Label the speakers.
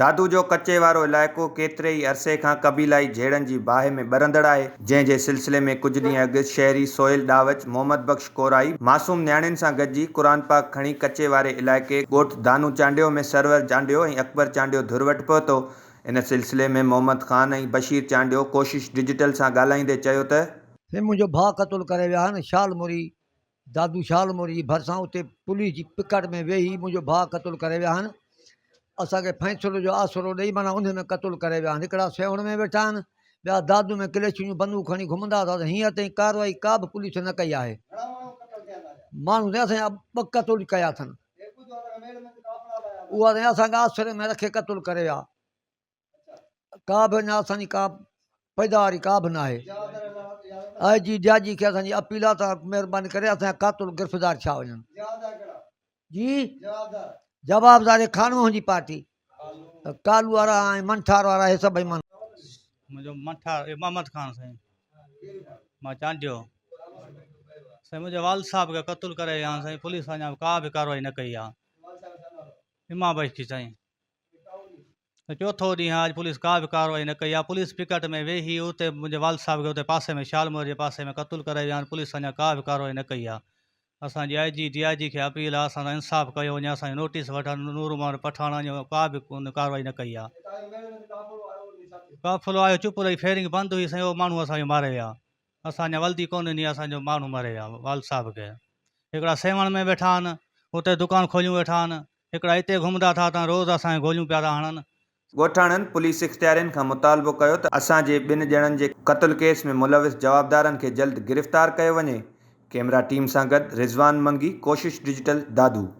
Speaker 1: دادو جو ڪچي وارو علائقو ڪيتري ئي عرصي کان قبيلائي جهيڙن جي باهه ۾ ٻرندڙ آهي، جنهن جي سلسلي ۾ ڪجهه ڏينهن اڳ شهري سهيل ڏاوچ، محمد بخش ڪورائي، معصوم نياڻين سان گڏجي قرآن پاڪ کڻي ڪچي واري علائقي ڳوٺ دانو چانڊيو ۾ سرور چانڊيو ۽ اڪبر چانڊيو ڌر وٽ پهتو. ان سلسلي ۾ محمد خان ۽ بشير چانڊيو ڪوشش ڊجيٽل سان ڳالهائيندي چيو ته. سي منهنجو ڀاء
Speaker 2: قتل ڪري ويا آهن، شال مري دادو شالمور جي ڀرسان اتي پوليس جي پڪٽ ۾ ويهي منهنجو ڀاء قتل ڪري ويا آهن اسان کي فيصلو جو آسرو ڏئي معنيٰ انهي ۾ قتل ڪري ويا آهن هڪڙا سيوهڻ ۾ ويٺا آهن ٻيا دادو ۾ ڪليچن جون بندوق کڻي گهمندا اٿا ته هينئر تائين ڪارروائي ڪا به پوليس نه ڪئي آهي ماڻهو سائين اسان جا ٻه قتل ڪيا اٿن اها سائين اسان کي آسري ۾ رکي قتل ڪري ويا ڪا به اڃا اسانجي ڪا پيداواري ڪا به ناهي آء جي ڊي آء جي کي اسانجي اپيل آ تان مھرباني ڪري اسانجا قاتل گرفتار ڇا وڃن جي جواب داري کان وهن جي پارٽي ڪالو وارا ۽ منٺار وارا هي سڀ ايمان منھنجو
Speaker 3: منٺار امامت خان سائين مان چانڊيو سائين منھنجي والد صاحب کي قتل ڪري يا سائين پوليس اڃا ڪا به ڪارروائي نه ڪئي آ امام بخش سائين چوٿون ڏينهن آء اڄ پوليس ڪا به ڪارروائي نه ڪئي، آء پوليس پيڪٽ ۾ ويهي هيو ته منهنجي والد صاحب کي اتي پاسي ۾ شالمور جي پاسي ۾ قتل ڪرائي ويا آهن، پوليس اڃا ڪا به ڪارروائي نه ڪئي آهي، اسان جي آء جي، ڊي آء جي کي اپيل آهي اسان سان انصاف ڪيو وڃي، اسان جو نوٽيس وٺن، نور محمد پٺاڻ اڃا ڪا به ڪارروائي نه ڪئي آهي. قافلو آيو چپ رهي، فيرنگ بند هئي سائين، اهو ماڻهو اسان جو ماري ويا، اسان جا ولدي ڪونهن جي اسان جو ماڻهو مري ويا والد صاحب کي هڪڙا سيوهڻ ۾ ويٺا آهن اتي دڪان کوليون ويٺا آهن هڪڙا اتي گهمندا ٿا ته روز اسان کي گوليون پيا ٿا هڻن. ڳوٺاڻن
Speaker 1: پوليس اختيارين کان مطالبو ڪيو ته اسان جي ٻن ڄڻن جي قتل ڪيس ۾ ملوث جوابدارن کي جلد گرفتار ڪيو وڃي، ڪيمرا ٽيم سان گڏ رضوان منگي، ڪوشش ڊجيٽل، دادو.